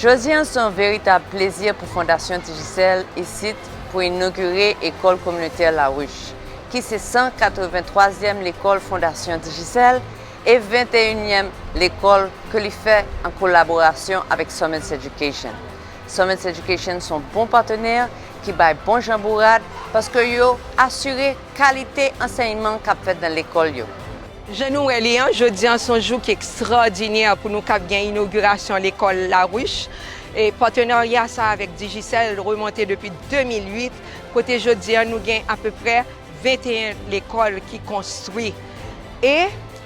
Jodi an se yon veritab plezi pou Fondasyon Digicel isit pou inogire Ecole Communautaire La Ruche ki se 183 zièm lekòl Fondasyon Digicel e 21 nièm lekòl ke li fè an kolaborasyon avèk Summits Education. Summits Education s on bon patenè ki bay bon jan bourad paske yo asire kalite ansèyman k ap fèt nan lekòl yo. Jan nou wè li an, jodi an s on jou ki ekstraòdinè pou nou k ap gen inogirasyon lekòl Laruche. Patenarya sa a avèk Digicel remonte depi 2008 kote jodi an nou gen apeprè 21 lekòl ki konstwi e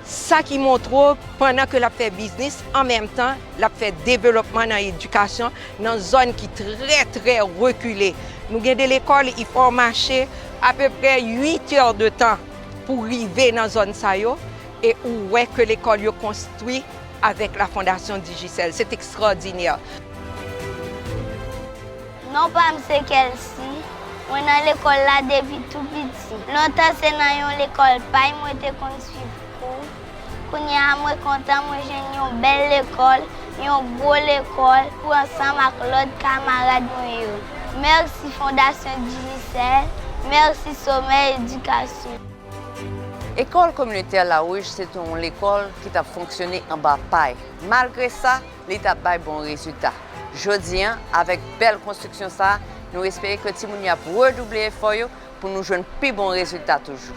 sa ki montre w pandan ke l ap fè biznis an menm tan l ap fè developman nan edikasyon nan zòn ki trè trè rekile. Nou gen de lekòl i fò w mache apeprè 8 è de tan pou w rive nan zòn sa yo e ou wè ke lekòl yo konstwi avèk la fondasyon Digicel. Se t ekstrawdinè. Non pa m se Kelsy. Mwen nan lekòl la depi tou piti. Lontan se nan yon lekòl pay mwen te konn suiv kou. Kounye a mwen kontan mwen jwenn yon bèl lekòl, yon gwo lekòl pou ansanm ak lòt kamarad mwen yo. Mèsi Fondasyon Digicel, mèsi Sommet Education. Ekòl kominotè Lawouj se te yon lekòl ki t ap fonksyone anba pay. Malgre sa. li t ap bay bon rezilta. Jodi an, avèk bèl konstriksyon sa a, nou espere ke timoun yo ap redouble efò yo pou nou jwenn pi bon rezilta toujou.